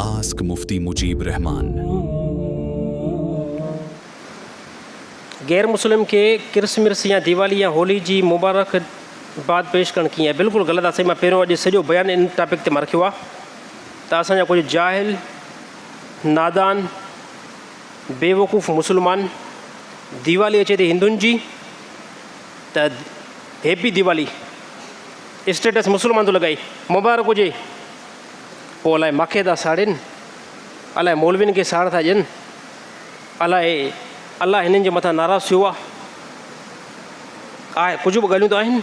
Ask Mufti Mujeeb Rehman. غير مسلم کي ڪرسمرس يا ديوالي يا هولي جي مبارخ باد پيش ڪرڻ ڪيئن آهي بلڪل غلط آهي سائين مان پهريون اڄ سڄو بيان ان ٽاپڪ تي مان رکيو آهي ته اسان جا ڪجهه جاهل نادان بيوقوف مسلمان ديوالي اچي ٿي هندن جي ته هيپي ديوالي اسٽيٽس مسلمان ٿو لڳائي مبارڪ هجي پوء الاء ماکي ٿا ساڙين، الاء مولوين کي ساڙ ٿا ڏين، الاء الله هنن جي مٿان ناراض ٿيو آ، آء ڪجهه به ڳالهيون ته آهن،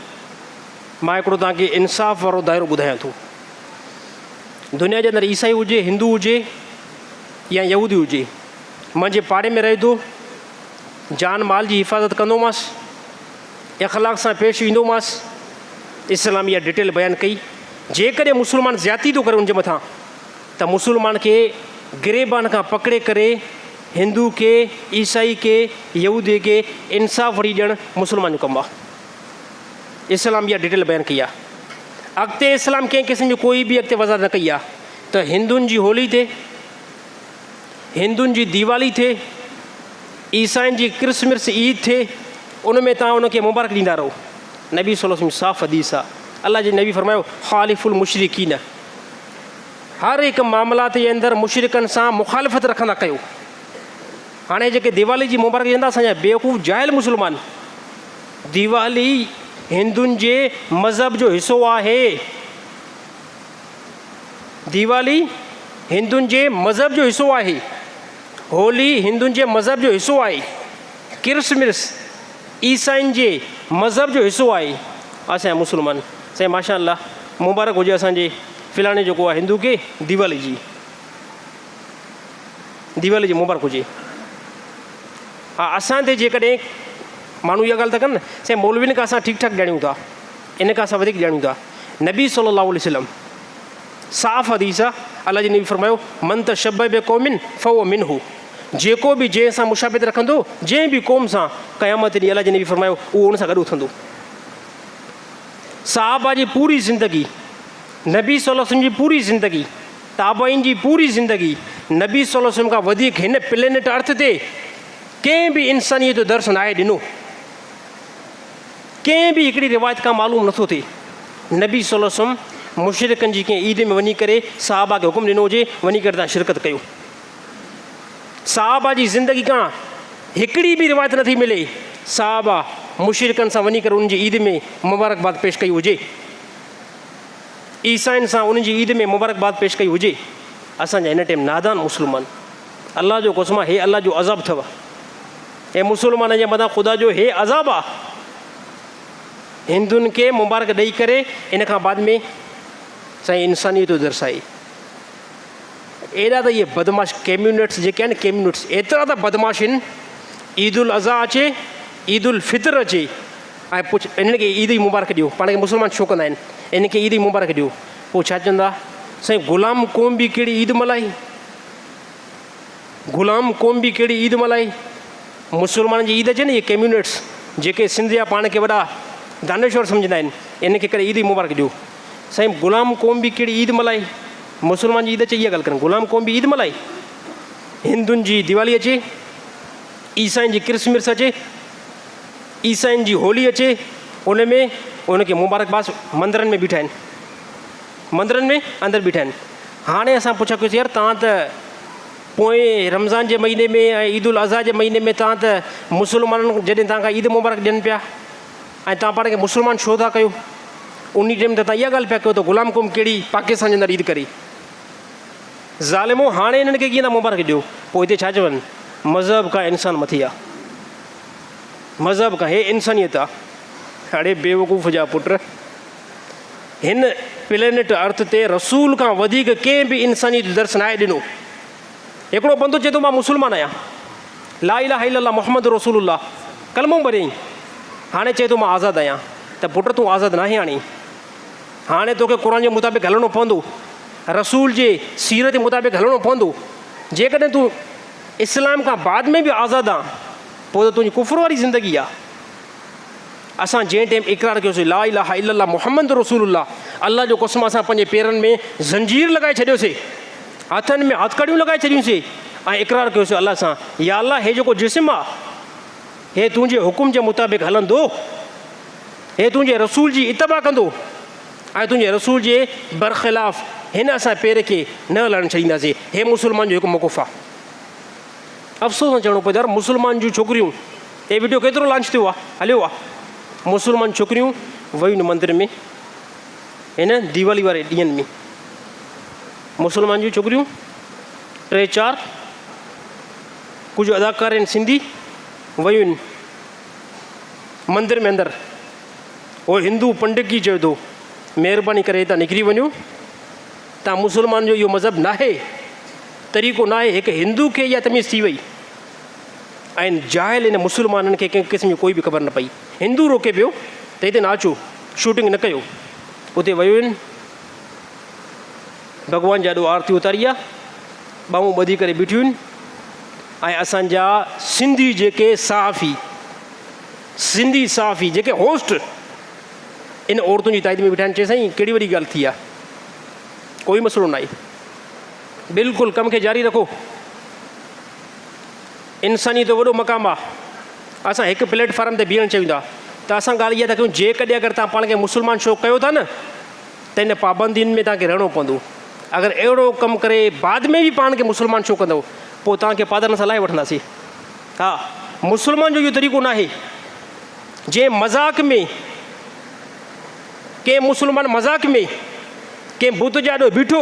مان هڪڙو توهان کي انصاف وارو دائرو ٻڌايان ٿو. دنيا جي اندر عيسائي هجي، هندو هجي يا يهودي هجي، منهنجي پاڙي ۾ رهي ٿو، جان مال جي حفاظت ڪندومانس، اخلاق سان پيش ايندومانس، اسلام اها ڊيٽيل بيان ڪئي. جيڪڏهن مسلمان زيادتي ٿو ڪري ان جي مٿان ته مسلمان کي گريبان کان پڪڙي ڪري هندو کي عيسائي کي يهودي کي انصاف وٺي ڏيڻ مسلمان جو ڪم آ اسلام اها ڊيٽيل بيان ڪئي آ اڳتي اسلام ڪنهن قسم جو ڪوئي به اڳتي وضاحت نه ڪئي آ ته هندن جي هولي تي هندن جي ديوالي ٿئي، عيسائين جي ڪرسمرس عيد ٿئي ان ۾ توهان ان کي مبارڪ ڏيندا رهو. نبي صلي الله عليه وسلم صاف حديث آ الله جي نبي فرمايو، خالف المشرڪين هر هڪ معاملات جي اندر مشرڪن سان مخالفت رکندا ڪيو. هاڻي جيڪي ديوالي جي مبارڪ ڏين ٿا اسان جا بيوقوف جاهل مسلمان ديوالي هندن جي مذهب جو حصو آهي. ديوالي هندن جي مذهب جو حصو آهي. هولي هندن جي مذهب جو حصو آهي. ڪرسمرس عيسائين جي مذهب جو حصو آهي. اسين مسلمان سائين ماشاء الله مبارڪ هجي اسان جي فلاڻي جيڪو آهي هندو کي ديوالي جي ديوالي جي مبارڪ هجي ها اسان تي جيڪڏهن ماڻهو اها ڳالهه ٿا ڪن سائين مولوين کان اسان ٺيڪ ٺاڪ ڄاڻيون ٿا ان کان اسان وڌيڪ ڄاڻون ٿا نبي صلي الله عليه وسلم صاف حديث آ الله جي نبي فرمايو من تشبه بقوم فهو منه جيڪو به جنهن سان مشابهت رکندو جنهن به قوم سان قيامت ڏينهن الله جي نبي فرمايو اهو ان سان گڏ اٿندو صحابه جي پوري زندگي نبي صلي الله عليه وسلم جي پوري زندگي تابعين جي پوري زندگي نبي صلي الله عليه وسلم کان وڌيڪ هن پلينيٽ ارٿ تي ڪنهن به انسانيت جو درس ناهي ڏنو ڪنهن به هڪڙي روايت کان معلوم نه ٿو ٿئي نبي صلي الله عليه وسلم مشرڪن جي ڪنهن عيد ۾ وڃي ڪري صحابه کي حڪم ڏنو هجي وڃي ڪري تان شرڪت ڪيو. صحابه جي زندگي کان هڪڙي به روايت نه ٿي ملي صحابه مشرڪن سان وڃي ڪري انهن جي عيد ۾ مبارڪباد پيش ڪئي هجي. عيسائين سان انهن جي عيد ۾ مبارڪباد پيش ڪئي هجي. اسان جا هن ٽيم نادان مسلمان الله جو قسم آ هي الله جو عذاب ٿو. اي مسلمانن جي مٿان خدا جو هي عذاب آ. هندن کي مبارڪ ڏئي ڪري ان کان بعد ۾ سائين انسانيت درسائي. ايڏا ته اهي بدمعاش ڪيميونٽس جيڪي آهن ڪيميونٽس ايترا ته بدمعاش هن عيد الاضحيٰ اچي عيد الفطر اچي ۽ پڇ انهن کي عيد جي مبارڪ ڏيو پاڻ کي مسلمان ڇو ڪندا آهن انهن کي عيد جي مبارڪ ڏيو پوء ڇا چوندا سائين غلام قوم به ڪهڙي عيد ملائي. غلام قوم به ڪهڙي عيد ملهائي؟ مسلمانن جي عيد اچي نه اهي ڪميونسٽس جيڪي سنڌ جا پاڻ کي وڏا دانشور سمجهندا آهن انهن کي ڪڏهن عيد جي مبارڪ ڏيو سائين غلام قوم به ڪهڙي عيد ملهائي؟ مسلمان جي عيد اچي اها ڳالهه ڪرن غلام قوم به عيد ملهائي؟ هندن جي ديوالي اچي؟ عيسائين جي ڪرسمرس اچي؟ عيسائين جي هولي اچي ان ۾ ان کي مبارڪ باس مندرن ۾ بيٺا آهن. مندرن ۾ اندر بيٺا آهن هاڻي اسان پڇا ڪيوسين يار توهان ته پوئين رمضان جي مهيني ۾ ۽ عيد الاضحيٰ جي مهيني ۾ توهان ته مسلمانن جڏهن توهان کان عيد مبارڪ ڏين پيا ۽ توهان پاڻ کي مسلمان ڇو ٿا ڪيو ان ٽيم ته توهان اها ڳالهه پيا ڪيو ته غلام قوم ڪهڙي پاڪستان جي اندر عيد ڪري ظالمو هاڻي انهن کي ڪيئن ٿا مبارڪ ڏيو پوء هتي ڇا چون مذهب کان انسان مٿي آ مذهب کان هي انسانيت آ اڙي بيوقوف جا پٽ هن پلينيٽ ارٿ تي رسول کان وڌيڪ ڪنهن به انسانيت جو درس ناهي ڏنو. هڪڙو بندو چئي ٿو مان مسلمان آهيان، لا اله الا الله محمد رسول الله ڪلمو پڙهيائين، هاڻي چئي ٿو مان آزاد آهيان، ته پٽ تون آزاد ناهين هاڻي، هاڻي توکي قرآن جي مطابق هلڻو پوندو، رسول جي سيرت جي مطابق هلڻو پوندو، جيڪڏهن تون اسلام کان بعد ۾ به آزاد آن، پوء ته تنهنجي ڪفر واري زندگي آ. اسان جنهن ٽيم اقرار ڪيوسين لا اله الا الله محمد رسول الله الله جو قسم اسان پنهنجي پيرن ۾ زنجير لڳائي ڇڏيوسي هٿن ۾ هٿڪڙيون لڳائي ڇڏيونسي ۽ اقرار ڪيوسي الله سان يا الله هي جيڪو جسم آ هي تنهنجي حڪم جي مطابق هلندو هي تنهنجي رسول جي اتباع ڪندو ۽ تنهنجي رسول جي برخلاف هن اسان پير کي نه هلائڻ ڇڏينداسي هي مسلمان جو هڪ موقف آ افسوس سان چوڻو پوي ته يار مسلمان جون ڇوڪريون هي وڊيو ڪيترو لانچ ٿيو آ هليو آ مسلمان ڇوڪريون ويون مندر ۾ هن ديوالي واري ڏينهن ۾ مسلمان جون ڇوڪريون ٽي چار ڪجهه اداڪار آهن سنڌي ويون مندر ۾ اندر هو هندو پنڊت جي چيو ٿو مهرباني ڪري هتان نڪري وڃو تان مسلمان جو اهو مذهب ناهي طريقو ناهي هڪ هندو کي اها تميز ٿي وئي ۽ جاهل ان مسلمانن کي ڪنهن قسم جي ڪوئي به خبر نه پئي. هندو روڪي پيو ته هتي نه اچو، شوٽنگ نه ڪيو. اتي ويوين، ڀڳوان جي آڏو آرتي اتاري آ، ٻانهون ٻڌي ڪري بيٺيون آهن ۽ اسان جا سنڌي جيڪي صحافي، سنڌي صحافي جيڪي هوسٽ ان عورتن جي تائيد ۾ بيٺا آهن. چئي سائين ڪهڙي وڏي ڳالهه ٿي آ، ڪوئي مسئلو ناهي، بلڪل ڪم کي جاري رکو. انسانيت جو وڏو مقام آ. اسان هڪ پليٽ فارم تي بيهڻ چيون ٿا ته اسان ڳالهه اها ٿا ڪيون جيڪڏهن اگر توهان پاڻ کي مسلمان شو ڪيو ٿا نه ته ان پابندين ۾ توهان کي رهڻو پوندو اگر اهڙو ڪم ڪري بعد ۾ به پاڻ کي مسلمان شو ڪندو پوء توهان کي پادرن سان لاهي وٺنداسين ها مسلمان جو اهو طريقو ناهي جنهن مذاق ۾ ڪنهن مسلمان مذاق ۾ ڪنهن بت جي آڏو بيٺو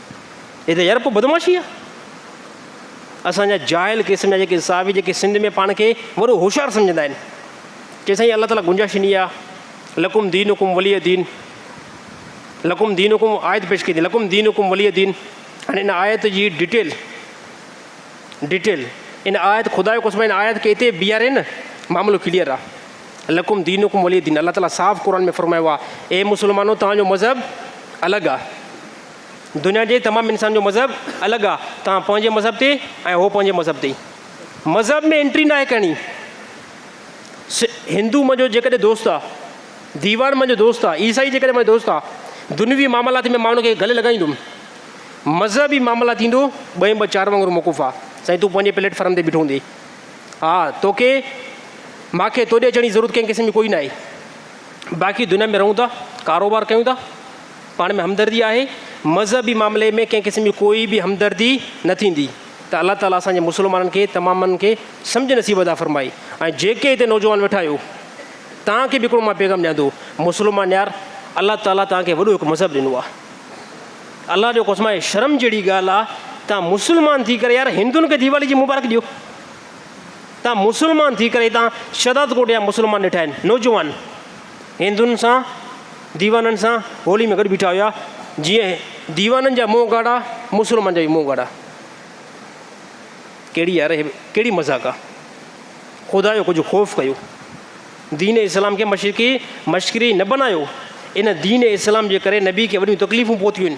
هي ته يار ڪو بدمعاشي آ. اسان جا جاهل قسم جا جيڪي انصافي جيڪي سنڌ ۾ پاڻ کي وڏو هوشيار سمجهندا آهن چي سائين الله تعالي گنجائش ڏني آ لڪم دين حڪم ولي دين لڪم دين حڪم آيت پيش ڪئي لڪم دين حڪم ولي دين هاڻي ان آيت جي ڊيٽيل ڊيٽيل ان آيت خدا جو قسم ان آيت کي اتي بيهاري نه معاملو ڪليئر آ لکم دين حڪم ولي دين الله تعاليٰ صاف قرآن ۾ فرمايو آ اي مسلمانو تان جو مذهب الڳ آ دنيا جي تمام انسان جو مذهب الڳ آ توهان پنهنجي مذهب تي ۽ هو پنهنجي مذهب تي مذهب ۾ انٽري ناهي ڪرڻي هندو منهنجو جيڪڏهن دوست آ ديوان منهنجو دوست آ عيسائي جيڪڏهن منهنجو دوست آ دنوي معاملات ۾ ماڻهو کي گلي لڳائيندم مذهبي معاملا ٿيندو ٻئي ٻه چار وانگر موقف آ سائين تون پنهنجي پليٽ فارم تي بيٺو هوندي ها توکي ماکي توڏي اچڻ جي ضرورت ڪنهن قسم جي ڪوئي ناهي باقي دنيا ۾ رهون ٿا ڪاروبار ڪيون ٿا پاڻ ۾ همدردي آهي، مذهبي معاملي ۾ ڪنهن قسم جي ڪوئي به همدردي نه ٿيندي ته الله تعاليٰ اسان جي مسلمانن کي تمامن کي سمجهه نصيب ادا فرمائي ۽ جيڪي هتي نوجوان ويٺا آهيو توهان کي به هڪڙو مان پيغام ڏيان ٿو مسلمان يار الله تعاليٰ توهان کي وڏو هڪ مذهب ڏنو آهي الله جو قسم آهي شرم جهڙي ڳالهه آهي توهان مسلمان ٿي ڪري يار هندن کي ديوالي جي مبارڪ ڏيو توهان مسلمان ٿي ڪري توهان شهداد ڪوٽ جا مسلمان ڏٺا آهن نوجوان هندن سان ديوانن سان هولي ۾ گڏ بيٺا هيا، جيئن ديوانن جا منهن ڳاڙها، مسلمانن جا به منهن ڳاڙها. ڪهڙي يار هي ڪهڙي مذاق آ. خدا جو ڪجهه خوف ڪيو. دين اسلام کي مشرقي مشڪري نه بنايو. ان دين اسلام جي ڪري نبي کي وڏيون تڪليفون پهتيون آهن.